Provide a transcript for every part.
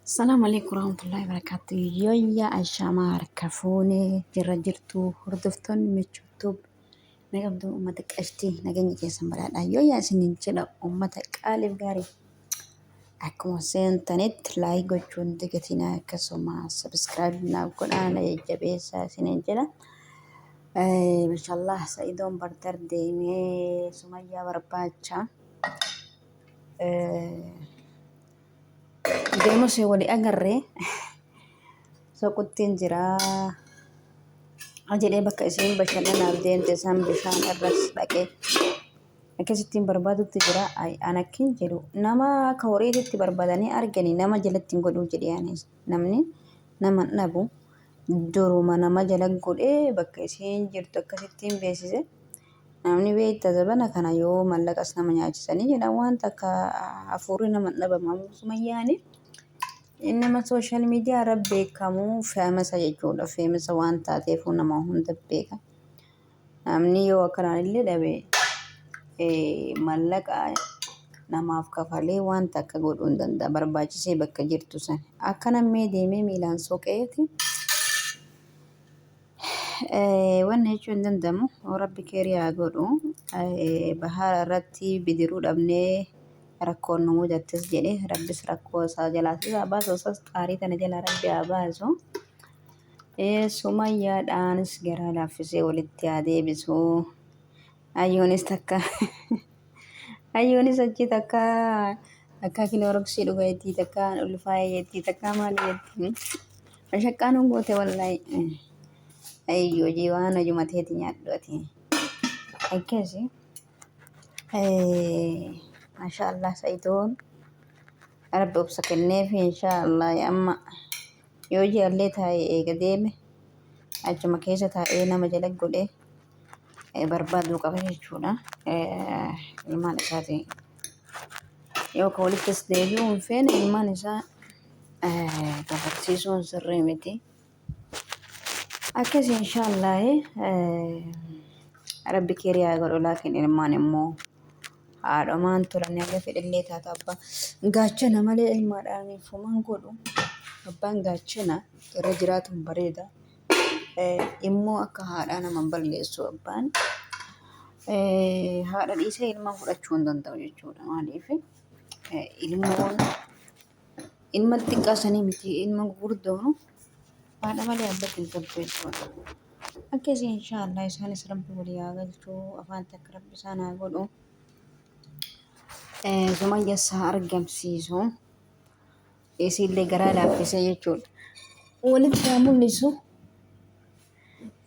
Salaam alaikum warahmatullahi wabarakatuh. Yoyya Ashama harka fuune jirra jirtu hordoftoonni michuu tube na qabdu uummata qashtii nageenya keessan badhaadha. Yoyya isiniin jedha uummata qaaliif gaarii akkuma seentanitti laayik gochuun dagatinaa akkasuma sabiskiraayib naaf godhaa na jajjabeessaa isiniin jedha. Eh, Mashallah Sa'idoon bardar deemee Sumayyaa barbaacha. Eh, Deema ishee wali agarree soquttiin jiraa. Jedhee bakka isheen bashannanaaf deemte isaan bishaan irras dhaqee akkasittiin barbaadutti jira. Ay an akkin jedhu nama akka horiititti barbaadanii arganii nama jalatti hin godhuu jedhee anis namni nama hin dhabu duruma nama jala godhee bakka isheen jirtu akkasittiin beeksise. Namni beekta zabana kana yoo mallaqas nama nyaachisanii jedhan waan takka hafuurri nama hin dhabamu ammoo sumayyaani inni nama sooshaal miidiyaa irra beekamu feemasa jechuudha feemasa waan taateefuu nama hunda beeka namni yoo akkanaan illee dhabe eh, mallaqa namaaf kafalee waan takka godhuu hin danda'a barbaachisee bakka jirtu san akkana mee deemee miilaan soqeeti Wanni jechuu hin danda'amu rabbi keerii haa godhu. Bahaara irratti bidiruu dhabnee rakkoon nu mudattis jedhe rabbis rakkoo isaa jalaa isaa baasu osas xaarii tana jalaa rabbi haa baasu. Sumayyaadhaanis garaa laaffisee walitti haa deebisu. Ayyoonis takka ayyoonis achi takka takka kinooroksii dhuga jettii takka ulfaa'ee jettii takka maali jettii. Ashaqaa nu goote wallahi. Ayyi hojii waan hojuma teeti nyaadhu ati. Akkasi. Masha Allah Sa'idoon. Rabbi obsa kenneef insha Allah amma yoo jaallee taa'ee eega deeme achuma keessa taa'ee nama jala godhee eh, barbaaduu qaba jechuudha. Eh, Ilmaan isaatiin. Yoo ka walittis deebi'uu hin feene ilmaan isaa dabarsiisuun sirrii miti. Akkasii inshaallahi rabbi keerii haa godhu laakiin ilmaan immoo haadhomaan turan haga fedhillee taata abbaa gaachana malee ilmaadhaan fuman godhu abbaan gaachana irra jiraatuun bareeda immoo akka haadhaa nama balleessu abbaan haadha dhiisee ilma fudhachuu hin danda'u jechuudha maaliif ilmoon ilma xiqqaa sanii miti ilma gurguddoonu haadha malee abbaa kan qabdu jechuudha. Akkasii inshaallah isaanis rabbi walii haa galchuu afaan takka rabbi isaan haa godhu. Sumayya isaa argamsiisu isiillee garaa laaffisee jechuudha. Walitti haa mul'isu.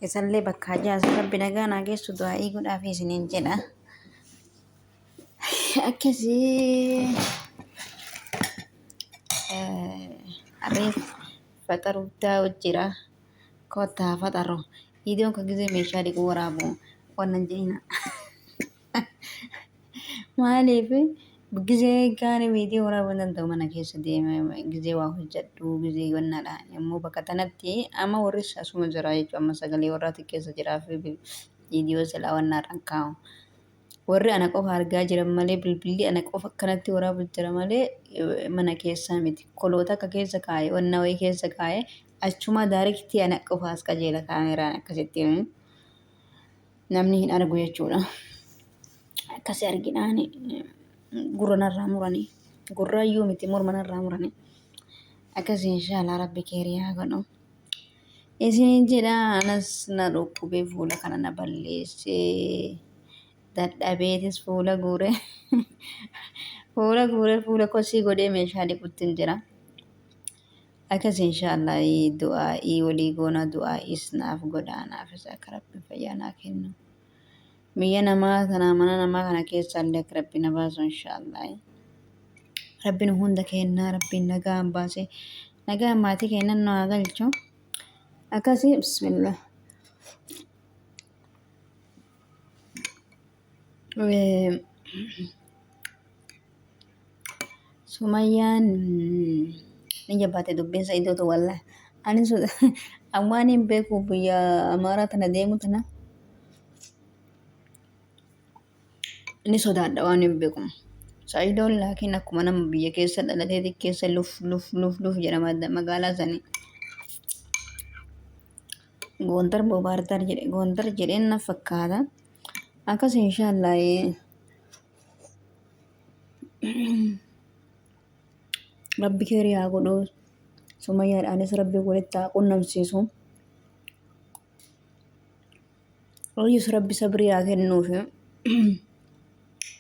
Isallee bakka hajaa rabbi nagaa naa geessu du'aa eeguudhaaf isiniin jedha. akkasii abee faxaruuf daawwa jira kottaa faxaroo viidiyoon kan gisee meeshaa dhiquu waraabu wannan jedhina maaliif gisee gaana viidiyoo waraabuu hin danda'u mana keessa deema gisee waa hojjedhu gisee wannaadha immoo bakka tanatti amma warris asuma jira jechuudha amma sagalee warraa xiqqeessa jiraa fi viidiyoo silaa wannaadhaan kaa'u. Warri ana qofa argaa jiran malee bilbilli ana qofa akkanatti waraabu jira malee eh, mana keessaa miti. Koloota akka keessa kaa'e, wanna wayii keessa kaa'e, achumaa daariktii ana qofa as qajeela kaameraan akkasitti eh, namni hin argu jechuudha. Akkasi arginaan eh, gurra narraa muranii, gurraayyuu miti morma narraa muranii. Akkasi inshaallah rabbi keerii haa godhu. Isiniin jedha anas na dhukkubee fuula kana na balleessee dadhabeetis fuula guure fuula guure fuula kosii godhee meeshaa dhiquttiin jira. Akkas inshaallah du'aa'ii walii goona du'aa'iis naaf godha naafis akka rabbiin fayyaa naa kennu. Biyya namaa kana mana namaa kana keessa illee akka rabbi na baasu inshaallah. Rabbi nu hunda kennaa rabbi nagaan baasee nagaan maatii keennan nu haa galchu. Akkasii bismillah. Eh, Sumayyaan ni jabbaate dubbiin Sa'iidootu wallah. Ani waan hin beeku biyya Amaaraa tana deemu tana ni sodaadha waan hin beeku. Sa'iidoon laakiin akkuma nama biyya keessa dhalatee xiqqeessa luf luf luf luf jedha magaalaa sanii. Goondar boo baardaar jedhe goondar jedheen na fakkaata. Akkas inshaallah rabbi keerii haa godhu sumayyaadhaanis rabbi walitti haa qunnamsiisu Ooyyus rabbi sabrii haa kennuufi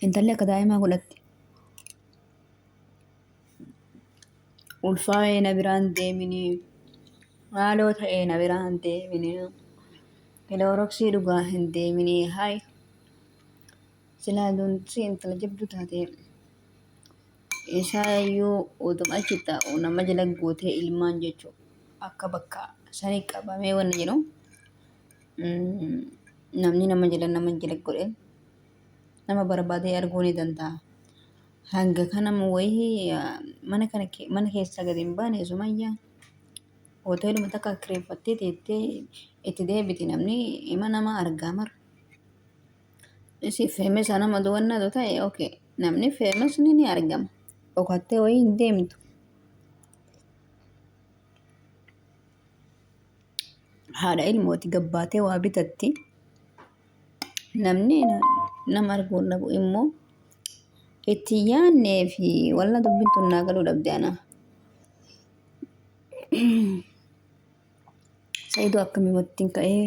intalli akka daa'imaa godhatti ulfaa'ee na biraan deeminii maaloo ta'ee na biraan deeminii kilooroksii dhugaa hin deeminii hayi Silaa doonsi intala jabduu taatee isaa yoo oduma achi taa'u nama jala gootee ilmaan jechuu akka bakka sanii qabamee wanni jedhu mm, namni nama jala nama jala godhe nama barbaadee arguu ni danda'a. Hanga kana wayii ah, mana kana ke- mana keessaa gadi hin baane sumayyaa hoteeluma takka kireeffattee teettee itti deebiti namni ima nama argaa mara. Ishee feemesa nama duwwannaatu ta'e okay. Namni feemesni ni argama. Dhokattee wayii hin deemtu. Haadha ilmooti gabbaatee waa bitatti. Namni nama arguu hin dhabu immoo itti yaannee fi walla dubbittu naa galuu dhabde anaa. Sa'iidoo akkamii wattiin ka'ee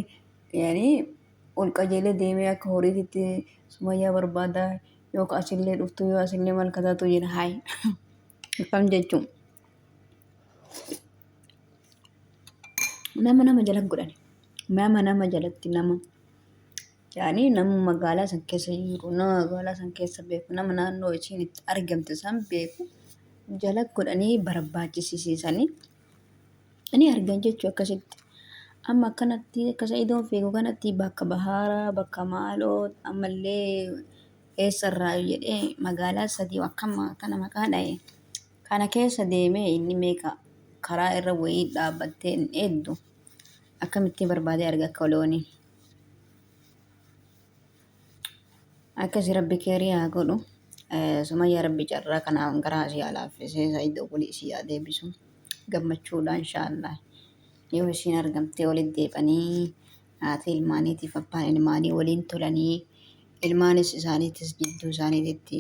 yaani ol qajeelee deemee akka horiititti sumayyaa barbaada yoo ka asillee dhuftu yoo asillee maal kataatu jedha haay akkam jechuun nama nama jalatti godhani nama nama jalatti nama yaani nama magaalaa san keessa jiru nama magaalaa san keessa beeku nama naannoo isiin itti argamte san beeku jalatti godhanii barbaachisiisanii. Ani argan jechuu akkasitti. Amma akkanatti akka sa'idoon fiigu kanatti bakka bahaaraa bakka maaloo ammallee eessarraa jedhee magaalaa sadii akkama akkana maqaa dha'e. Kana keessa deemee inni meeqa karaa irra wayii dhaabbattee hin eegdu. Akkamitti barbaadee arga akka loonii. Akkasi rabbi keerii haa godhu. Eh, Sumayyaa rabbi carraa kanaan garaa si haa laaffisee Said obbolii si haa deebisu. Gammachuudhaan inshaallah. Yoo isiin argamtee walitti deebanii haati ilmaaniitiif abbaan ilmaanii waliin tolanii ilmaanis isaaniitis jidduu isaaniititti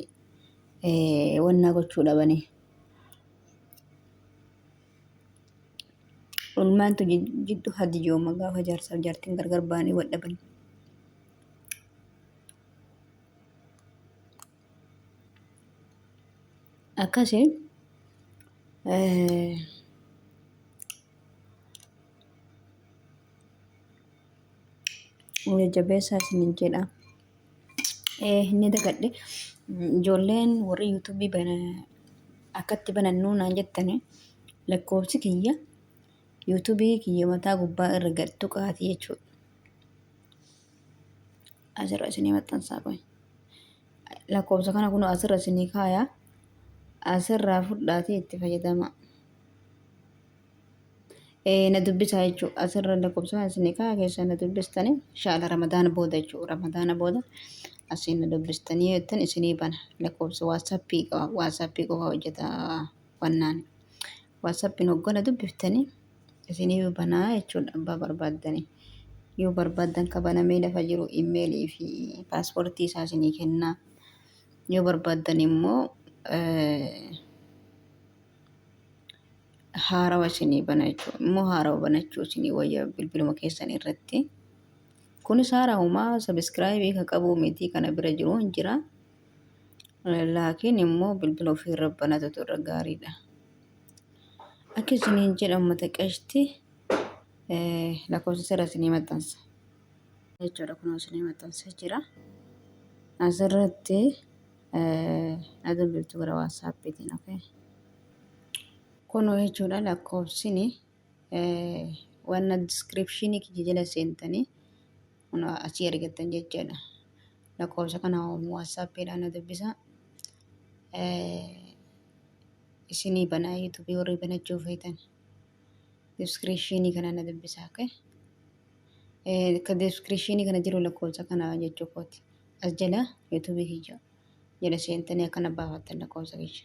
eh, wannaa gochuu dhabanii. Ilmaantu jid- jiddu hadijooma gaafa jaarsaaf jaartiin gargar ba'anii wal dhaban. akkasi jajjabeessaa isinin jedha inni dagadhe ijoolleen warri yuutuubii bana akkatti banannuu naan jettani lakkoofsi kiyya yuutuubii kiyya mataa gubbaa irra gad tuqaati jechuudha asirra isinii maxxansaa qoy lakkoofsa kana kun asirra isinii kaaya asirraa fudhaatii itti fayyadama na dubbisaa jechuu asirra lakkoofsa kana isinii kaaya keessaa na dubbistanii shaala ramadaana booda jechuu ramadaana booda asiin na dubbistanii jettan isinii bana lakkoofsa waatsaappii qaba waatsaappii qofa hojjeta wannaan Waasappiin hoggana dubbiftanii isinii yoo banaa jechuudha abbaa barbaaddanii. Yoo barbaaddan ka banamee lafa jiru imeelii fi paaspoortii isaa isinii kennaa. Yoo barbaaddan immoo haarawa isinii bana jechuudha. Immoo haarawa banachuu isinii wayya bilbiluma keessan irratti. Kunis haarahumaa sabiskiraayibii ka qabuu miti kana bira jiru hin jira. Laakiin immoo bilbila ofiirra banatutu irra gaariidha. Akka isiniin jedha uummata qashti lakkoofsa sirra isinii maxxansa. Jechuudha kun isinii maxxansa jira. Asirratti na dubbiftu gara waatsaappiitiin okay. Kun jechuudha lakkoofsini wanna diskiripshinii kiyya jala seentanii Kun asii argattan jechaadha. Lakkoofsa kana waatsaappiidhaan na dubbisa. Isinii banaa yuutuubii warri banachuu feetan. Diskiriishinii kana na dubbisa. Okay? Ka diskiriishinii kana jiru lakkoofsa kana jechuu kooti. As jala yuutuubii kiyya jala seentanii akkana baafattan lakkoofsa kiyya.